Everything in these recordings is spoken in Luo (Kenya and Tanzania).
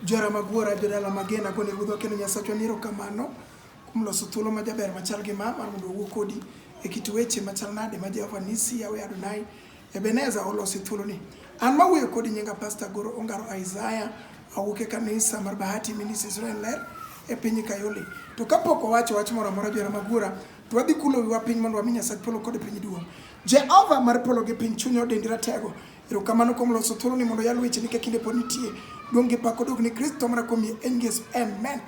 Jora magwara jodala magena gone ruodh wakendo Nyasachwa ni erokamano kuom loso thuolo ma jaber machal gi ma mar mondo owuo kodi e kit weche machal nade ma Jehova Nisi Yawe Adonai Ebeneza olosi thuolo ni. An mawuoyo kodi nyinga Pastor Goro Ongaro Isaiah awuok e kanisa mar Bahati Ministry Israel Ler e piny Kayole. To kapok owacho wach moro amora jora magwara to wadhi kulo wiwa piny mondo wami Nyasach polo kod piny duong'. Jehova mar polo gi piny chunyo dendi ratego Erokamano kuom loso thuolo ni mondo yal weche ni ka kinde pod nitie. Duong' gi pak odog ni Kristo mara kuom yie en Yesu. Amen.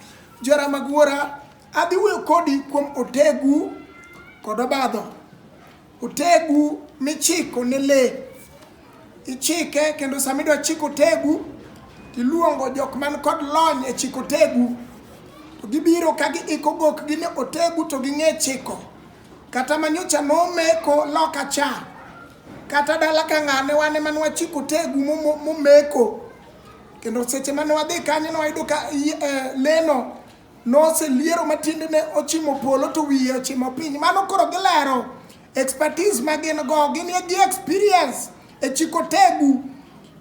Jora mag wuora, adhi wuoyo kodi kuom otegu kod obadho. Otegu michiko ne le. Ichike kendo sama idwa chiko otegu, tiluongo jok man kod lony e chiko otegu. To gibiro ka giiko gokgi ne otegu to ging'e chiko. Kata manyocha nomeko loka cha, Kata dala ka ng'ane wan ema ne wachiko tegu momeko. Kendo seche mane wadhi kanyo ne wayudo ka eh, leno noseliero ma tiendene ochimo polo to wiye ochimo piny. Mano koro gilero expertise ma gin go, gin gi experience e chiko tegu.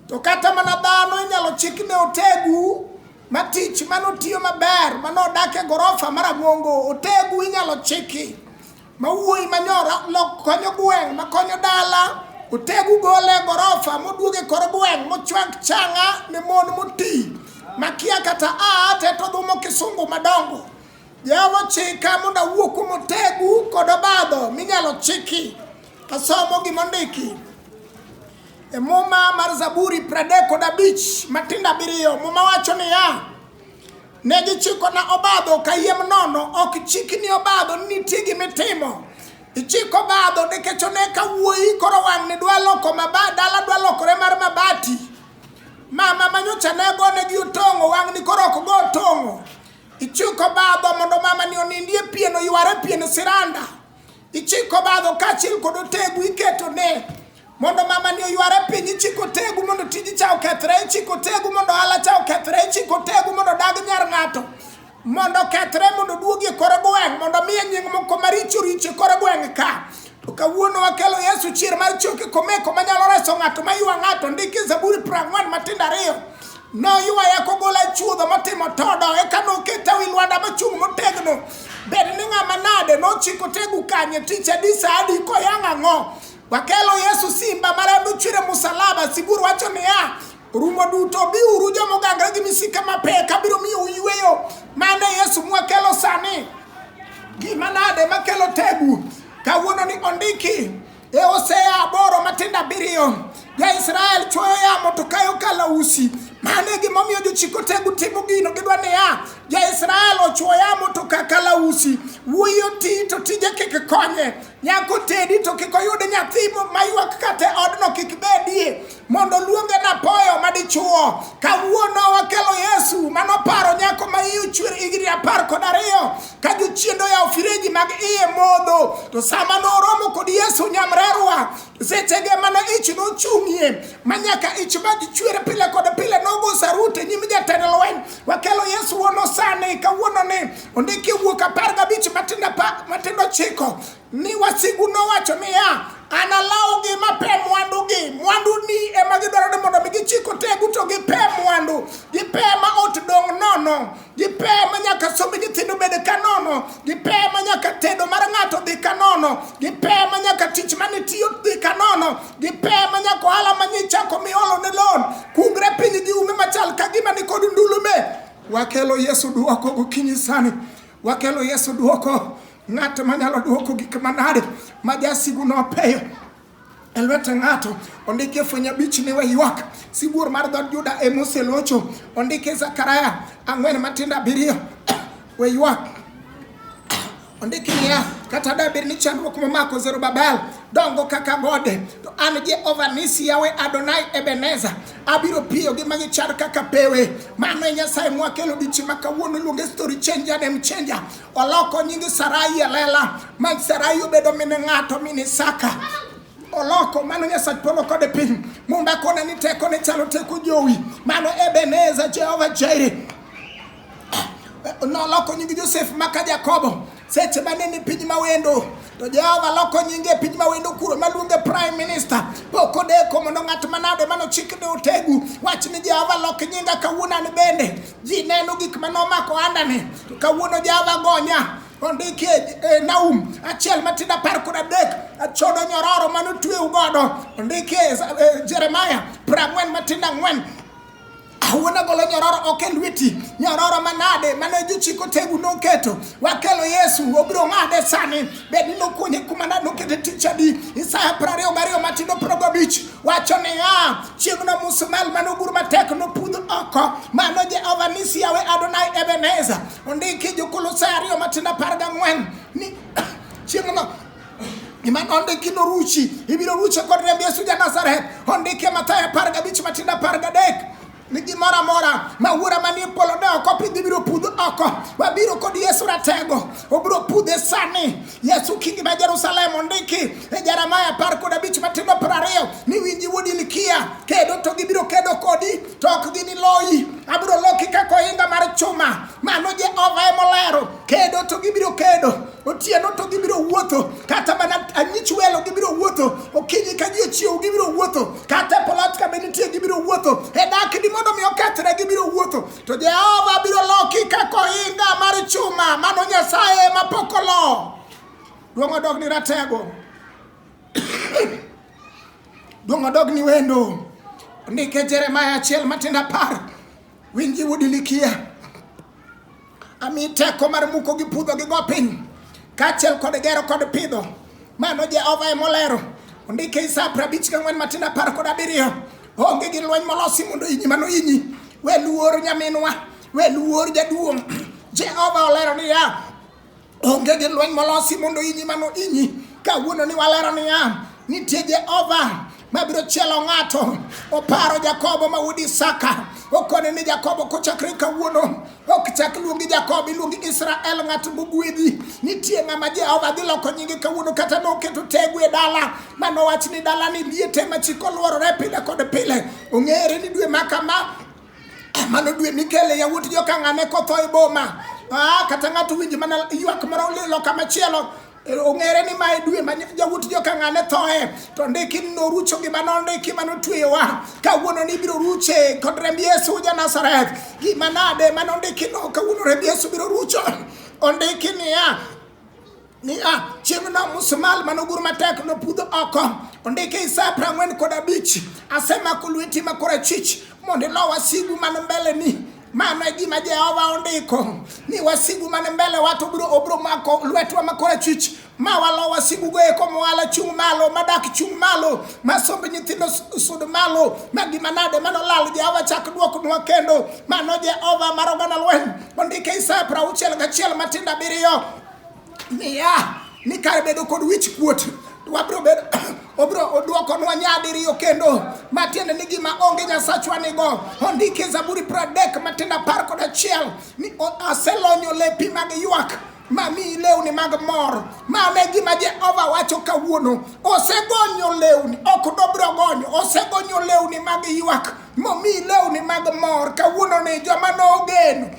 To kata mana dhano inyalo chik ne otegu ma tich mano tiyo maber, mano odak e gorofa mar Amongo, otegu inyalo chiki. ma wuoyi ma nyora lok konyo gweng' ma konyo dala otegu gole e gorofa moduog e kor gweng' mochwak changa ne mon moti makia kata aa te to dhumo kisungu madongo jehova chika mondo awuo kuom otegu kod obadho minyalo chiki asomo gimondiki e muma mar zaburi pradek kod abich matindo abiriyo muma wacho niya Ne gichikona obadho kayiem nono, ok chikni obadho ni nitie gima itimo. Ichiko obadho nikech one ka wuoyi koro wang'ni dwa loko mabati, dala dwa lokore mar mabati. Mama ma nyocha ne gonegi otong'o wang'ni koro ok go otong'o. Ichiko obadho mondo mamani onindie pien, oyware pien siranda. Ichiko badho kaachiel kod otegu iketo ne mondo mama ni oyware piny ichiko tegu mondo tiji cha okethre ichiko tegu mondo ala cha okethre ichiko tegu mondo dag nyar ng'ato mondo okethre mondo duogi e kore gweng' mondo miye nying' moko maricho richo e kore gweng' ka to kawuono wakelo yesu chier mar choke komeko manyalo reso ng'ato maywa ng'ato ndiki zaburi prang'wen matindo ariyo Noywaya kogola e chuodho motimo todo, eka noketa wi lwanda machung' motegno. Bed ni ng'ama nade nochiko tegu kanye tich adi sa adi koyang' ang'o? Wakelo Yesu simba ma rembe ochwere musalaba, sigur wacho niya, rumo duto biuru joma ogangre gi misike mapek abiro miyo uyweyo. Mane Yesu mwakelo sani. Gima nade makelo tegu? Kawuono ni ondiki E Hosea aboro matindo abiriyo ja-Israel chuoyo yamo to kayo kalausi. Mano e gimomiyo jochik otego timo gino gidwa niya, ja-Israel ochuo yamo to ka kalausi. Wuoyi oti to tije kik konye. Nyako tedi to kik oyud nyathi mo- maywak kata e odno kik bedie. mondo oluonge napoyo madichuo kawuono wakelo yesu mano paro nyako ma iye ochwer higni apar kod ariyo ka jochiendo ya ofireji mag iye modho to sama noromo kod yesu nyamrerwa sechege mana ich nochung'ie ma nyaka ich madichwer pile kod pile nogo sarute nyim jatend lweny wakelo yesu wono sani kawuono ni ondiki wuok apar gabich matindo chiko Mi wasigu nowacho niya, analawgi mape mwandugi. Mwanduni ema gidwaro ni mondo mi gichik otegu to gipe mwandu. Gipe ma ot dong' nono. Gipe ma nyaka somb nyithindo bed ka nono. Gipe ma nyaka tedo mar ng'ato dhi ka nono. Gipe ma nyaka tich mane tiyo dhi ka nono. Gipe ma nyaka ohala ma nyichako miolo ne loan. Kungre piny gi ume machal ka gima ni kod ndulume. Wakelo Yesu duoko gokinyi sani. Wakelo Yesu duoko. Ng'at manyalo duoko gik manade ma jasigu nopeyo e lwet ng'ato ondike fweny abich ni waywak sibuor mar dhood Juda e moselocho ondike Zakaria ang'wen matindo abiriyo waywak ondike niya kata dabed ni chandruok momako Zerubabel dongo kaka gode to an Jehova Nisi Yawe Adonai Ebeneza abiro piyo gi magi char kaka pewe mano e Nyasaye mwakelo dichi ma kawuono luonge story changer dem changer Oloko nying Sarai e lela ma Sarai obedo min ng'ato min Isaka. Oloko mano Nyasach polo kod piny. Mumba kone ni teko ne chalo teko jowi. Mano Ebeneza Jehova Jairi. Noloko nying Josef maka Jakobo seche mane ni piny mawendo to Jehova loko nyinge e piny mawendo kuro maluonge prime minister pok odeko mondo ng'at manade manochik ne otegu wach ni Jehova lok nyinga kawuono an bende Ji neno gik ma nomako andani. Kawuono Java gonya. ondiki e Naum achiel matindo apar kod adek achodo nyororo mane otweu godo ondiki e, e Jeremaya piero ang'wen matindo ang'wen awuona golo nyororo ok e lweti nyororo manade mane jochiko tegu noketo wakelo yesu obiro ng'ade sani bed ni nokunye kuma nade nokete tich adi isaya piero ariyo gariyo matindo piero gabich wacho niya, chieng'no musumal mane ogur matek nopudh oko, mano Jehova nisi yawe Adonai Ebeneza. Ondiki Jokolosae ariyo matindo apar gang'wen ni chieng'no gima nondiki noruchi, ibiro ruche kod remb Yesu ja Nazareth. Ondiki e Mathayo apar gabich matindo apar gadek ni gimoro amora ma wuora manie polo ne ok opidh ibiro pudh oko wabiro kod yesu ratego obiro pudhe sani yesu kingi ma jerusalem ondiki e jeremaya apar kod abich matindo piero ariyo ni winji wuod ilkia kedo to gibiro kedo kodi to ok giniloyi abiro loki kaka ohinga mar chuma mano jehova emolero kedo to gibiro kedo otieno to gibiro wuotho kata mana anyich welo gibiro wuotho okinyi ka ji ochiew gibiro wuotho kata e polat kama nitie gibiro wuotho e dakni mondo mi okethre gibiro wuotho to jehova biro loki kaka ohinga mar chuma mano nyasaye ma pok olo duong' odog ni ratego duong' odog ni wendo ndike jeremaya achiel matindo apar winji wudilikia ami teko mar muko gi pudho gi go piny kaachiel kod gero kod pidho mano jehova ema olero ondike isa prabich gi ang'wen matindo apar kod abiriyo onge gi lweny molosi mondo inyi mano inyi we luor nyaminwa we luor jaduong' jehova olero niya Onge gi lweny molosi mondo inyi mano inyi. Kawuono ni walero niya, nitie Jehova mabiro chielo ng'ato. Oparo Jakobo ma wuod Isaka. Okone ni Jakobo kochakre kawuono ok chak luongi Jakobo, iluongi Israel, ng'at mogwedhi. Nitie ng'ama Jehova dhi loko nyinge kawuono, kata noketo tegu e dala ma nowach ni dalani liete ma chik oluorore pile kod pile. Ong'ere ni dwe ma kama mano dwe mikele yawuot jokang'ane kotho e boma ah, kata ng'ato winjo mana ywak moro loka machielo eh, ong'ere ni mae dwe ma jawuot jokang'ane thoe to ndiki norucho gima nondiki ma notweyowa kawuono ni ibiro ruche kod remb yesu ja nazareth gima nade ma nondiki no kawuono remb yesu biro rucho ondiki niya niya chieng'no musmal manogur matek nopudho oko ondike isaya prang'wen kod abich asemako lweti ma korachwich mondo ilo wasigu man mbele ni mano e gima jehova ondiko ni wasigu man mbele wa to biro obiro mako lwetwa ma korachwich ma walo wasigugo eko mwala chung' malo madak chung' malo ma somb nyithindo s- sud malo ma gima nade manolal jehova chak dwoknwa kendo mano jehova mar oganda lweny ondike isaya prauchiel gachiel matindo abiriyo niya ni kar bedo kod wich kuot to wabiro bedo obiro odwokonwa nyadiriyo kendo matiende ni gima onge nyasachwa nigo ondike zaburi pradek matiende apar kod achiel ni o- aselonyo lepi mag ywak mamiyi lewni mag mor mano e gima jehova wacho kawuono osegonyo lewni ok dobiro gonyo osegonyo lewni mag ywak momiyi lewni mag mor kawuono ni joma nogeno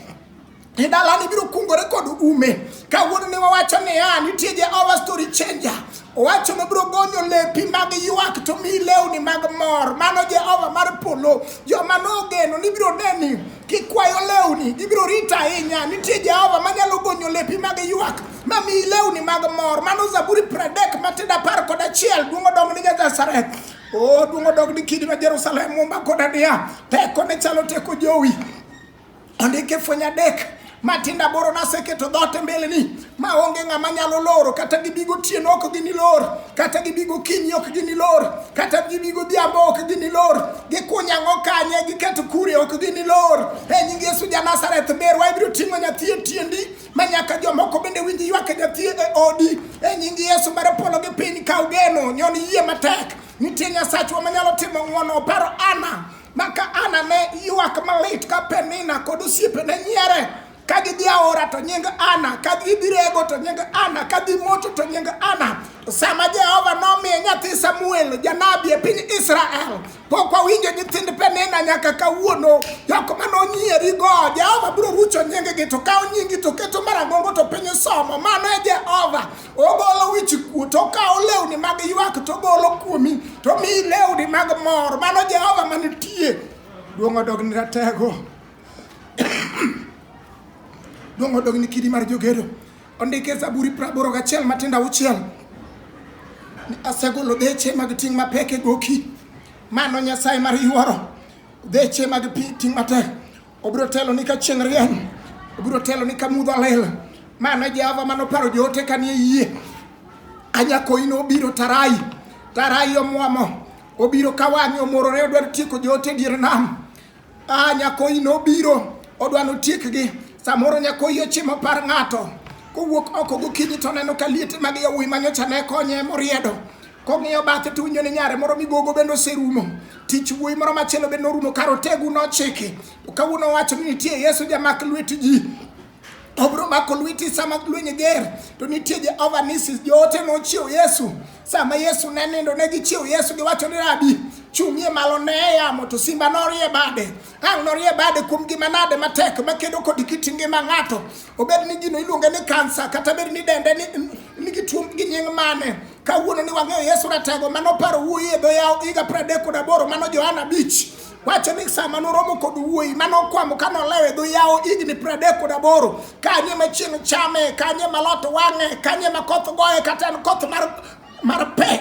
e dalani biro kungore kod ume kawuono ne wawacho niya nitie jehova story changer owacho nobiro gonyo lepi mag ywak to mi lewni mag mor mano jehova mar polo joma nogeno nibiro neni kikwayo lewni gibiro rito ahinya nitie jehova manyalo gonyo lepi mag ywak ma mi lewni mag mor mano zaburi pradek matindo apar kod achiel duong' odong ni nyazasareth o duong' odog ni kidi ma jerusalem mumba koda niya teko ne chalo teko jowi ondike fweny adek matindo aboro naseketo dhoot e mbeleni ma onge ng'ama nyalo loro kata gibi gotieno ok ginilor kata gibi gokinyi ok ginilor kata gibi godhiambo ok ginilor gikuny ang'o kanye giketo kure ok ginilor e nying yesu ja nazareth berwa ibiro ting'o nyathi e tiendi ma nyaka jomoko bende winj ywak e nyathi e odi e nying yesu mar polo gi piny kaw geno nyon yie matek nitie nyasachwa manyalo timo ng'wono oparo ana Maka Ana ne ywak malit ka Penina kod osiepene nyiere ka gidhi aora to nying Ana, ka gidhi rego to nying Ana, ka gidhi moto to nying Ana. To sama Jehova nomiye nyathi Samuel janabi e piny Israel, pok wawinjo nyithind Penina nyaka kawuono. Jok ma nonyierigo, Jehova biro rucho nyinggi, to kawo nyinggi to keto marang'ongo to piny somo. Mano e Jehova. ogolo wich kuot okawo lewni mag ywak to ogolo kuomi to omiyi lewni mag mor mano jehova manitie duong' odogni ratego duong' odogni kidi mar jogedo ondike zaburi praboro gachiel matindo auchiel ni asegolo deche mag ting' mapek e goki mano nyasaye mar yuoro deche mag pi- ting' matek Obiro telo ni ka chieng' rieny, obiro telo ni ka mudho lil. Mano e Jehova mane oparo joote kanie yie. Anyakoyi nobiro tarai, tarai omwomo, obiro ka wang'e omorore odwaro tieko joote e dier nam. Ah, nyakoyi nobiro odwa notiekgi. Samoro nyakoyi ochimo par ng'ato kowuok oko gokinyi to oneno ka liete mag yawuoyi manyocha ne konye moriedo Kong'iyo bathe to winjo ni nyare moro migogo bende oserumo. Tich wuoyi moro machielo bende orumo kar otegu nochiki. To kawuono owacho ni nitie Yesu jamak lweti ji. Obro mako lweti sama lweny ger to nitie Jehova nisi joote nochiew Yesu. Sama Yesu ne nindo ne gichiew Yesu giwacho ni rabi chung'ie malo ne yamo to simba norie bade. Ang' norie bade kuom gima nade matek makedo kod kit ngima ng'ato, obed ni gino iluonge ni kansa kata bed ni dende ni nigi tuo gi nying' mane. Kawuono ni wang'eyo Yesu Ratego ma noparo wuoyi e dho yawo higa 38 mano Johana 5 wacho ni sama noromo kod wuoyi mane okwamo ka nolewo e dho yawo higni pradek kod aboro kanye ma chieng' chame kanye ma lot wang'e kanye ma koth goye kata en koth mar mar pek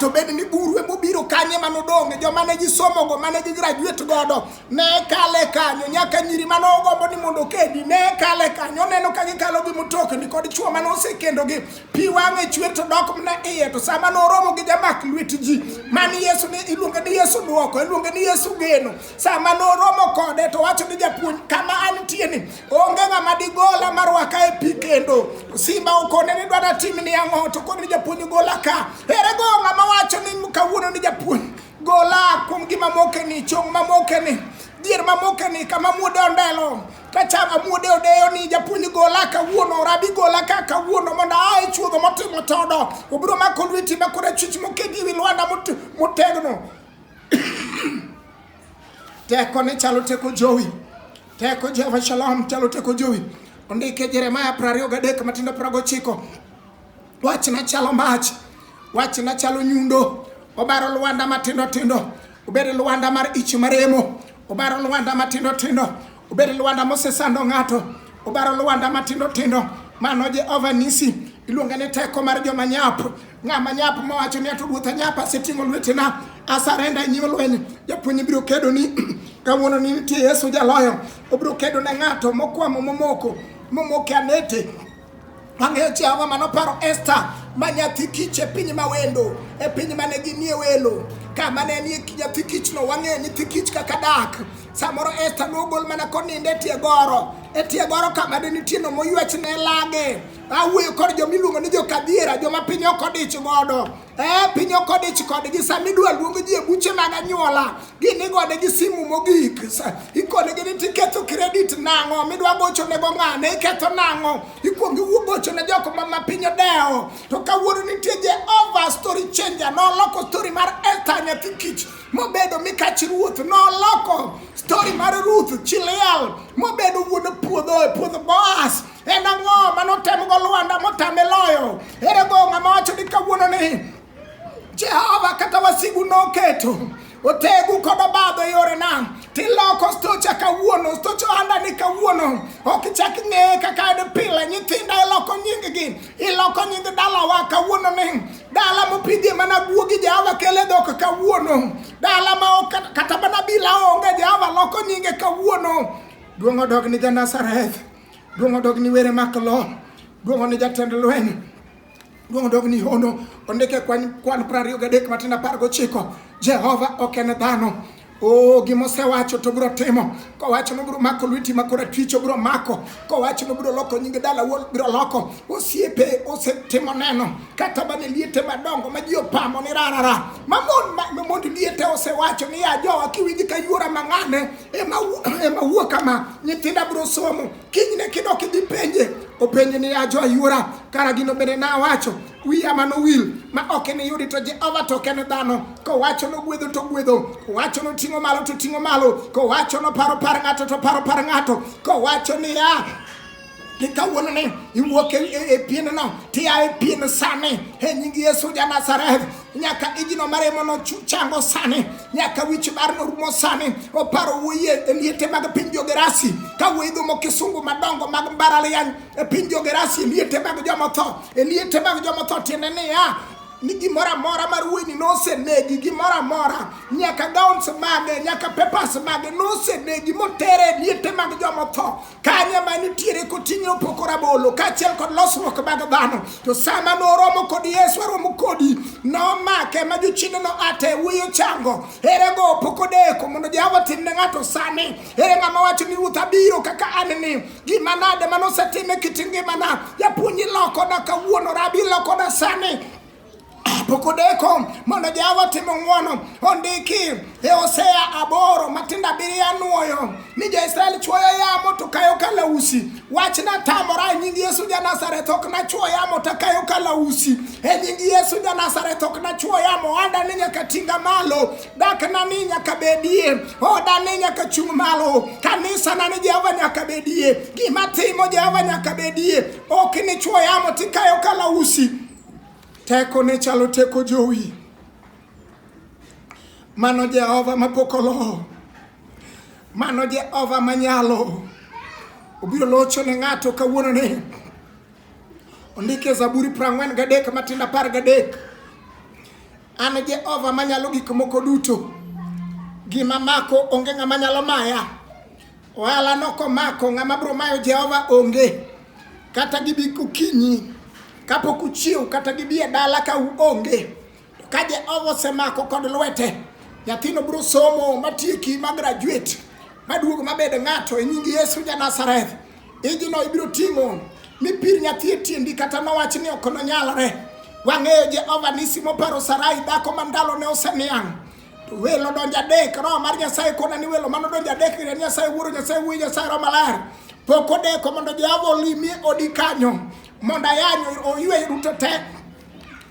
to bed ni buru e mobiro kanye mane odonge joma ne gisomogo mane gigraduate godo ne kale kanyo nyaka nyiri mane ogombo ni mondo kedi ne kale kanyo oneno ka gikalo gi mutokni kod chuo mane osekendogi pi wang'e chwer to dok mna iye to sama noromo gi jamak lwet ji mani yesu ni iluonge ni yesu dwoko iluonge ni yesu geno sama noromo kode to wacho ni japuonj kama antie ni Onge ng'ama digola marwaka e pi kendo. Simba okone ni dwada tim ni ang'o to koni japuonj gola ka. Ere go ng'ama wacho ni kawuono ni japuonj gola kuom gima moke ni chong ma moke ni dier ma moke ni kama muode ondelo kachama muode odeyo ni japuonj gola kawuono rabi gola ka kawuono mondo ae chuodho motimo todo obiro mako lweti makore chich mokedi wi lwanda motegno Teko ne chalo teko jowi. Teko Jehova Shalom chalo teko jowi. Ondike Jeremaya 23 matindo 19. Wach na chalo mach. Wach na chalo nyundo. Obaro lwanda matindo tindo. Obedo lwanda mar ich maremo. Obaro lwanda matindo tindo. Obed lwanda mosesando ng'ato, obaro lwanda matindo tindo, mano Jehova Nisi. Iluonge ni teko mar joma nyap, ng'ama nyap mowacho ni ato ruoth anyap, aseting'o lwetena, asarenda e nyim lweny. Japuonj biro kedo ni kawuono ni nitie Yesu jaloyo, obiro kedo ne ng'ato mokwamo momoko, momoke anete Wang'eyo chi ang'o ma noparo Esta ma nyathi kich e piny ma wendo, e piny ma ne ginie welo, ka ma ne nie nyathi kichno. Wang'eyo nyithi kich kaka dak. Samoro Esta nogol mana konindo e tie goro, e tie goro ka ma ne nitie no moywech ne lage. Awuoyo kod joma iluongo ni jokadhiera, joma piny ok odich godo. Eh, piny okodich kodgi sama idwa luong ji e buche mag anyuola gin igode gi simu mogik ikonegi ni tiketho kredit nang'o midwa gochonego ng'ane iketho nang'o ikwongi wuo gochone jok ma ma piny odewo to kawuono nitie jehova story changer noloko story mar esta nyathi kich mobedo mikach ruoth noloko story mar ruth chiliel mobedo wuon puodho e puodho boas En ang'o ma notemgo Lwanda motame loyo? Ere go ng'ama wacho ni kawuono ni Jehova kata wasigu noketo otegu kod obadho e yorena tiloko stocha kawuono stocha ohanda ni kawuono ok ichak ing'eye kaka en pile nyithinda iloko nyinggi iloko nying dalawa kawuono ni dala mopidhie mana guogi jehova kele dhok kawuono dala ma ok kata mana bila onge jehova loko nyinge kawuono duong' odog ni janasareth Duong' odog ni were mak lo. Duong' one jatend lweny. Duong' odog ni hono. Ondike kwan kwan prariyo gadek matin apar gochiko. Jehova ok en dhano. Oh, gima osewacho to biro timo. Kowacho no biro mako lweti ma korachwich obiro mako. Kowacho no biro loko nyinge dala wuon biro loko. Osiepe osetimo neno kata bane liete madongo ma ji opamo ni rarara. Mamon ma mamond liete osewacho ni ya jowa kiwinji ka yuora mang'ane ema, ema wuo kama nyithindo abiro somo kinyne kidok idhi penje openje ni ajo ayuora kara gino bende na awacho wiya mano wil ma ok iniyudi to jehova to ok en dhano kowacho nogwedho to gwedho kowacho noting'o malo to ting'o malo kowacho noparo par ng'ato to paro par ng'ato kowacho niya Kika wonu ne iwo ke epie no no ti a epie no sane he nyingi Yesu ja Nazareth nyaka ijino mare mono chu- chango sane nyaka wich bar no rumo sane oparo wuye e liete mag piny Jogerasi ka wuidho mo kisungu madongo mag mbaralian e piny Jogerasi e liete mag jomotho e liete mag jomotho tiende niya ni gimoro amora mar wuoyini nosenegi gimoro amora nyaka gowns mage nyaka papers mage nosenegi motere e liete mag jomotho kanye ma nitiere koting'e opoko rabolo kaachiel kod losruok mag dhano to sama noromo kod yesu aromo kodi nomake ma jochiende no ate wuyi ochango ere go opoko deko mondo jehova tim ne ng'ato sani ere ng'ama wacho ni ruoth abiro kaka an ni gima nade ma nosetime kit ngimana japuonj ilokoda kawuono rabi ilokoda sani Pokudeko mondo Jehova otim ng'wono ondiki e Hosea aboro matindo abiriyo anwoyo ni jo-Israel chwoyo yamo to kayo kalausi. Wach natamora e nying Yesu ja Nazareth ok nachwo yamo to akayo kalausi. E nying Yesu ja Nazareth ok nachwo yamo ohanda ni nyaka tinga malo. Dakna ni nyaka bedie. Oda ni nyaka chung' malo. Kanisa na ni Jehova nyaka bedie. Gima timo Jehova nyaka bedie. Ok nichwo yamo tikayo kalausi. Tekone chalo teko jowi. Mano Jehova mapok olo. Mano Jehova manyalo. Obiro locho ne ng'ato kawuono ni. Ondike Zaburi prang'wen gadek matindo apar gadek. An Jehova manyalo gik moko duto. Gima mako onge ng'ama nyalo maya. Ohala no komako ng'ama bro mayo Jehova onge. Kata gibi kukinyi kapok uchiew kata gibi e dala ka uonge. To ka Jehova osemako kod lwete, nyathino bro somo matieki ma graduate maduogo mabed ng'ato e nying Yesu ja Nazareth. Ijino ibiro ting'o ni pir nyathi e tiendi kata nowach ni ok nonyalre. Wang'eyo Jehova nisi moparo Sarai dhako ma ndalone oseniang'. To welo donjo adek, Roho mar Nyasaye kona ni welo mano donjo adek ir Nyasaye Wuoro, Nyasaye Wuoyi, Nyasaye Roho Maler. Pok odeko mondo Jehova olimie odi kanyo mondo ayanyo oywe duto te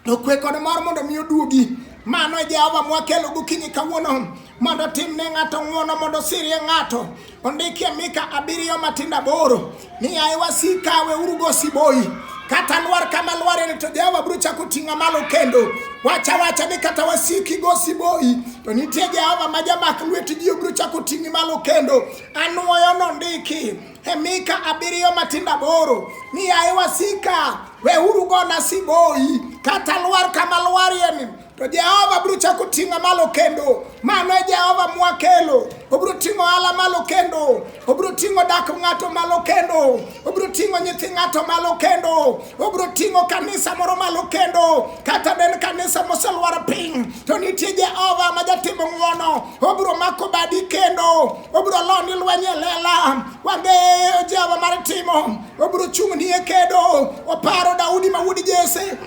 to kwe kod mor mondo mi oduogi mano e Jehova mwakelo gokinyi kawuono mondo timne ng'ato ng'wono mondo sirie ng'ato Ondikie Mika abiriyo matindo aboro ni yaye wasika weuru go siboi kata lwar kama lwareni to Jehova biro chako ting'a malo kendo wacha wacha ni kata wasiki go siboi to nitie Jehova ma jamak lweti ji obiro chako ting'i malo kendo anwoyo nondiki e Mika abiriyo matindo aboro ni yaye wasika weuru gona siboi kata lwar kama lwarieni To Jehova biro chako ting'a malo kendo. Mano e Jehova mwakelo. Obiro ting'o ala malo kendo. Obiro ting'o dak ng'ato malo kendo. Obiro ting'o nyithi ng'ato malo kendo. Obiro ting'o kanisa moro malo kendo. Kata den kanisa moselwar piny. To nitie Jehova ma jatimo ng'wono. Obiro mako badi kendo. Obiro loni lweny e lela. Wang'eyo Jehova mar timo. Obiro chung'ni e kedo. Oparo Daudi ma wuod Jesse.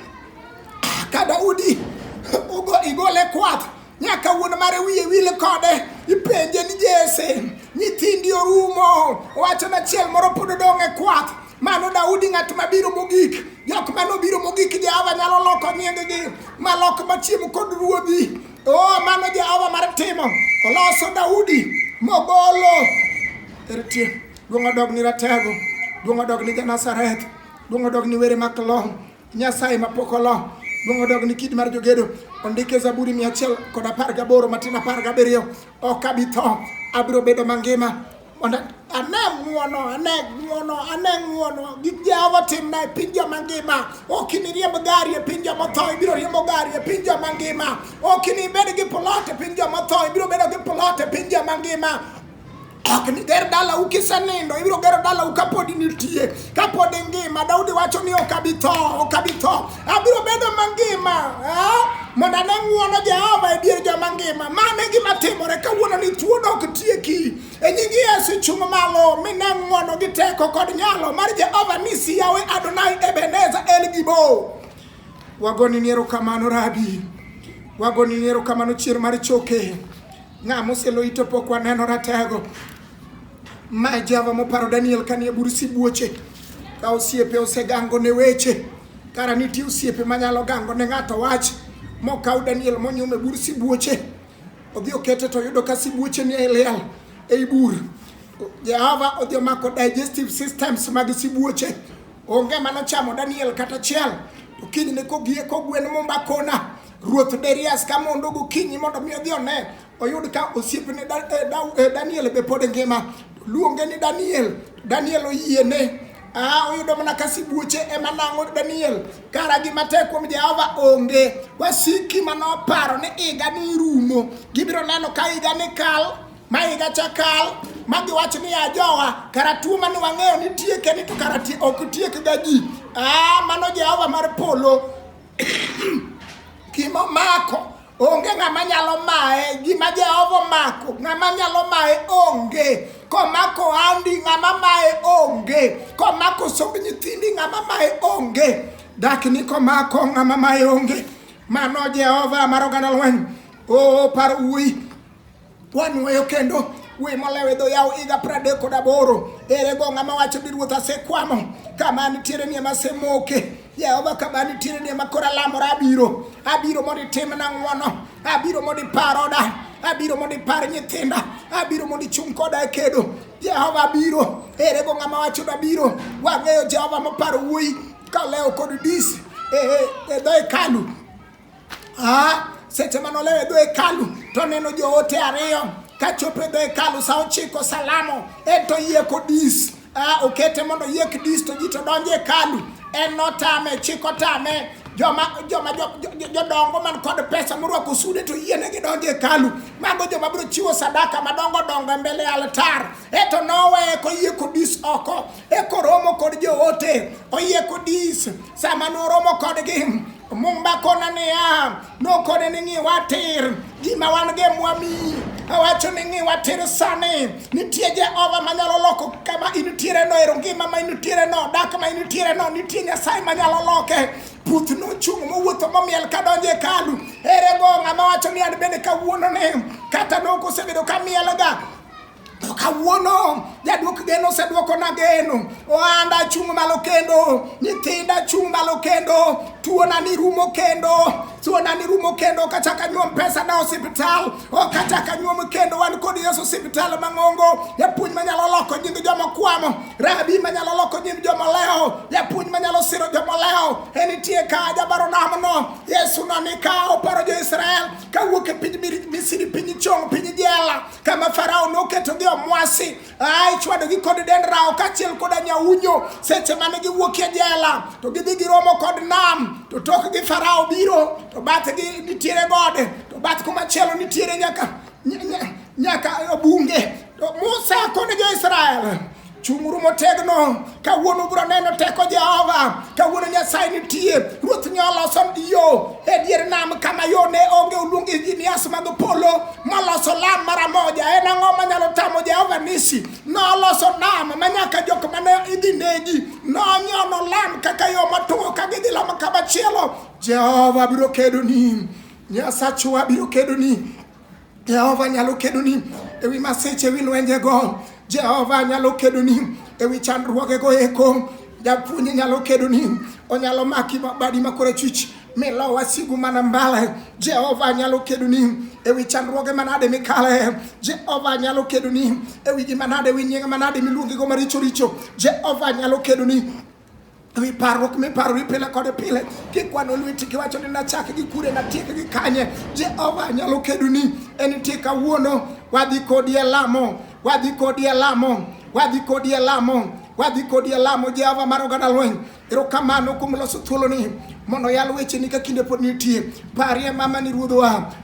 Ka Daudi ugo igole kwath nyaka wuon mare wiye wil kode ipenje ni Jesse nyithindi orumo owacho na chiel moro pod odong' e kwath mano Daudi ng'at mabiro mogik jok mane obiro mogik Jehova nyalo loko nyinggi malok machiem kod ruodhi o mano Jehova mar timo oloso Daudi mogolo eritie duong' odog ni ratego duong' odog ni Janazareth duong' odog ni were maklong Nyasaye ma pok olo luong odog ni kidi mar jogedo ondike zaburi mia achiel kod apar gaboro matin apar gabiriyo ok abi tho abiro bedo mangima mondo ane ng'uono ane ng'uono ane ng'uono gik jehova timna e piny joma ngima ok iniriemb gari e piny joma tho ibiro riembo gari e piny joma ngima ok inibed gi plot e piny joma tho ibiro bedo gi plot e piny joma ngima Ok niger dala ukisenindo, ibiro gero dala ukapodi nitie, kapod ingima. Daudi wacho ni ok abi tho, ok abi tho, abiro bedo mangima eh? mondo ane ng'wono Jehova e dier joma ngima. Mano e gima timore kawuono ni tuo dok tieki. E nying Yesu chung' malo mine ng'wono gi teko kod nyalo mar Jehova nisi yawe Adonai Ebeneza El Gibo. Wagoni ni erokamano Rabi, wagoni ni erokamano chier mar choke. Ng'a mosielo ito pok waneno ratego. Ma e Jehova moparo Daniel kanie bur sibuoche. Ka osiepe osegango ne weche. Kara nitie osiepe manyalo gango ne ng'ato wach. Mokaw Daniel monyume bur sibuoche. Odhi okete to yudo ka sibuoche ni e liel ei bur. Jehova odhi omako digestive systems mag sibuoche. Onge manochamo Daniel kata achiel. To kinyne kogie kogwen mumba kona. Ruoth Darius ka mondo gokinyi mondo mi odhi one oyud ka osiepne eh, eh, Daniel be pod ngima. Luonge ni Daniel, Daniel oyiene. Ah, oyudo mana ka sibuoche ema nang'o Daniel kara gima tek kuom Jehova onge. Wasiki manoparo ni iga ni rumo, gibiro neno ka iga ni kal ma higa cha kal ma giwacho ni ajowa kara tuo mane wang'eyo ni tieke ni to kara ok tiekga ji. Ah, mano Jehova mar polo Gima omako onge ng'ama nyalo maye, gima Jehova omako ng'ama nyalo maye onge. Komako ohandi ng'ama maye onge, komako somb nyithindi ng'ama maye onge, dakni komako ng'ama maye onge. Mano Jehova mar oganda lweny, o par wuoyi Wanwoyo kendo we molewe dho yawo higa pradek kod aboro ere go ng'ama wacho ni ruoth asekwamo kama nitiere ni ema asemoke jehova kama nitiere ni ema koro alamora abiro abiro mondo itimna ng'wono abiro mondo ipar oda abiro mondo ipar nyithinda abiro mondo ichung' koda e kedo jehova abiro ere go ng'ama wacho ni abiro wang'eyo jehova moparo wuoyi kalewo kod dis e, e, e dho hekalu Ah, seche mane olewo e dho hekalu to oneno joote ariyo ka chopo e dho hekalu sa ochiko salamo en to yie kodis ah, okete mondo yie kdis to ji to donjo e hekalu en notame chik otame joma joma jo- jo- jo- jodongo man kod pesa morwako sude to yiene gidonjo e hekalu mago joma biro chiwo sadaka madongo dongo e mbele altar eto noweye koyie kodis oko ekoromo kod joote oyie kodis sama noromo kodgi mumba kona niya nokone ni ng'iwa tir gima wan ge mwami awacho ni ng'iwa tir sani nitie jehova manyalo loko kama initiere no ero ngima ma initiere no dak ma initiere no nitie nyasaye manyalo loke puth nochung' mowuotho momiel kadonjo e kalu ere go ng'ama wacho ni an bende kawuono ni kata nokosebedo kamielga To kawuono jaduok geno oseduokona geno, ohanda chung' malo kendo, nyithinda chung' malo kendo, tuona ni rumo kendo, tuona ni rumo kendo, ok achak anyuom pesa na osiptal, ok achak anyuom kendo, wan kod Yesu osiptal mang'ongo, japuonj manyalo loko nying joma kwamo, rabi manyalo loko nying joma lewo, japuonj manyalo siro joma lewo, enitie ka jabaro namno, Yesu no ni ka oparo jo Israel, kawuok e piny Mir- Misri, piny chong, piny jela, kama Farao noketogi omwasi a ichwadogi kod dend rawo kaachiel koda nyaunyo seche mane giwuok e jela to gidhi giromo kod nam to tokgi Farao biro to bathgi nitiere gode to bath kumachielo nitiere nyaka nya- nya- nyaka bunge to Musa kod jo-Israel Chung'uru motegno. Kawuono biro neno teko Jehova. Kawuono Nyasaye nitie. Ruoth nyo oloso yo e dier nam kama yo ne onge oluong engineers mag polo maloso lam mara moja. En ang'o manyalo tamo Jehova nisi? Noloso nam ma nyaka jok mane idhi negi. Nonyono lam kaka yo matuo ka gidhi lamo kama chielo. Jehova biro kedoni. Nyasachwa biro kedoni. Jehova nyalo kedoni e wi masiche, e wi lwenjego. Jehova nyalo kedoni e wi chandruogego eko. Japuonj nyalo kedoni, onyalo maki badi ma korachwich milo wasigu mana mbale. Jehova nyalo kedoni e wi chandruoge manade mikale. Jehova nyalo kedoni e wi gima nade, e wi nying manade miluongigo maricho richo. Jehova nyalo kedoni Wi parruok miparori pile kod pile, kikwano lweti kiwacho ni nachak gi kure natiek gi kanye, Jehova nyalo kedoni. En nitie kawuono, wadhi kodi e lamo, wadhi kodi e lamo, wadhi kodi e lamo, wadhi kodi e lamo, Jehova mar oganda lweny. Erokamano kuom loso thuoloni mondo yal wecheni ka kinde pod nitie. Parie mama ni ruodhwa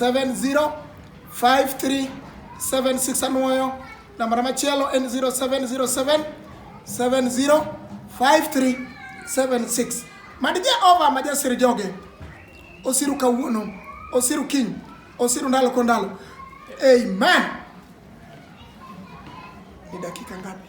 705376 anwoyo nambana machielo en 0707 705376 mad jehova ma jasir joge osiru kawuono osiru kiny osiru ndalo ko ndalo amen ni dakika ngapi